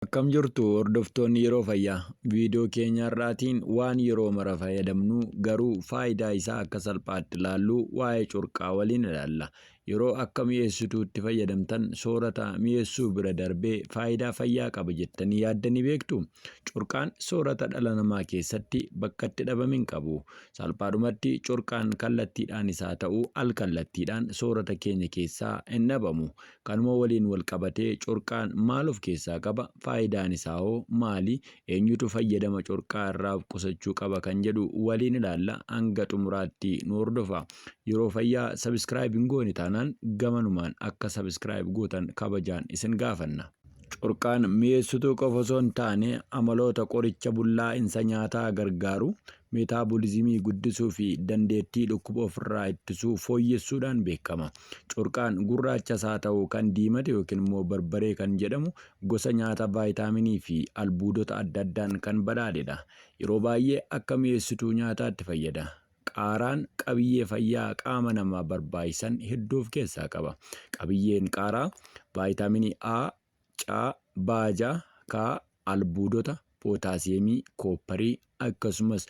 Akkam jirtu hordoftoonni yeroo fayyaa viidiyoo keenya har'aatiin waan yeroo mara fayyadamnu garuu faayidaa isaa akka salphaatti ilaallu waa'ee curqaa waliin ilaalla. Yeroo akka mi'eessituutti fayyadamtan soorata mi'eessuu bira darbee faayidaa fayyaa qaba jettanii yaaddanii beektu? Corqaan soorata dhala namaa keessatti bakka itti dhabame hin qabu. Salphaadhumatti corqaan kallattiidhaan isaa ta'u alkallattiidhaan soorata keenya keessaa hin dhabamu. Kanuma waliin wal qabatee corqaan maal of keessaa qaba? Faayidaan isaa hoo maali? Eenyutu fayyadama corqaa irraa of qusachuu qaba kan jedhu waliin ilaalla hanga xumuraatti nu hordofa. Yeroo fayyaa subscribe hin goone taanaan gamanumaan akka subscribe gootan kabajaan isin gaafanna. Corqaan mi'eessituu qofa osoo hin taane amaloota qoricha bullaa'insa nyaataa gargaaru, meetaabolizimii guddisuu fi dandeettii dhukkuba ofirraa ittisuu fooyyessuudhaan beekama. Corqaan gurraachas haa ta'u kan diimate yookiin immoo barbaree kan jedhamu Gosa nyaata vaayitaaminii fi albuudota adda addaan kan badhaadhedha. Yeroo baay'ee akka mi'eessituu nyaataatti fayyada. Qaaraan qabiyyee fayyaa qaama namaa barbaachisan hedduu of keessaa qaba. Qabiyyeen qaaraa vaayitaaminii A, C, baaja, K, albuudota, pootaasiyeemii, koopparii, akkasumas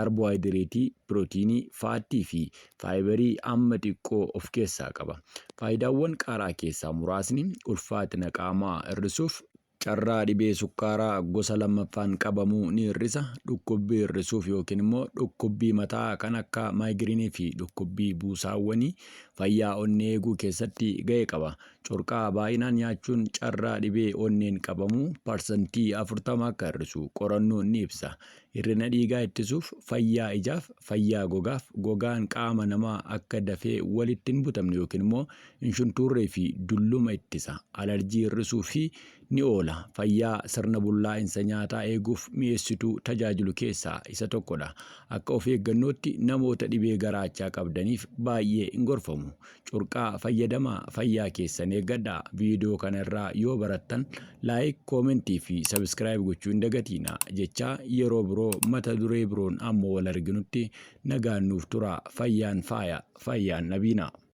kaarboohayidireetii, pirootiinii, faattii fi faayibarii hamma xiqqoo of keessaa qaba. Faayidaawwan qaaraa keessaa muraasni ulfaatina qaamaa hir'isuuf, carraa dhibee sukkaaraa gosa lammaffaan qabamuu ni hir'isa, dhukkubbii hir'isuuf yookiin immoo dhukkubbii mataa kan akka maayigiriinii fi dhukkubbii buusaawwanii, fayyaa onnee eeguu keessatti ga'ee qaba. Corqaa baay'inaan nyaachuun carraa dhibee onneen qabamuu parsantii 40 akka hir'isu qorannoon ni ibsa. Hir'ina dhiigaa ittisuuf, fayyaa ijaaf, fayyaa gogaaf, gogaan qaama namaa akka dafee walitti hin butamne yookiin immoo hin shuntuurree fi dulluma ittisa. Alarjii hir'isuu fi ni oola. Fayyaa sirna bullaa'insa nyaataa eeguuf mi'eessituu tajaajilu keessaa isa tokkodha. Akka of eeggannootti namoota dhibee garaachaa qabdaniif baay'ee hin gorfamu. Curqaa fayyadamaa fayyaa keessan eeggadha. Viidiyoo kana irraa yoo barattan laayik, koomentii fi sabiskiraayib gochuu hin dagatiina jechaa yeroo biroo mata duree biroon ammoo wal arginutti nagaan nuuf tura. Fayyaan faaya, fayyaan dhabiina.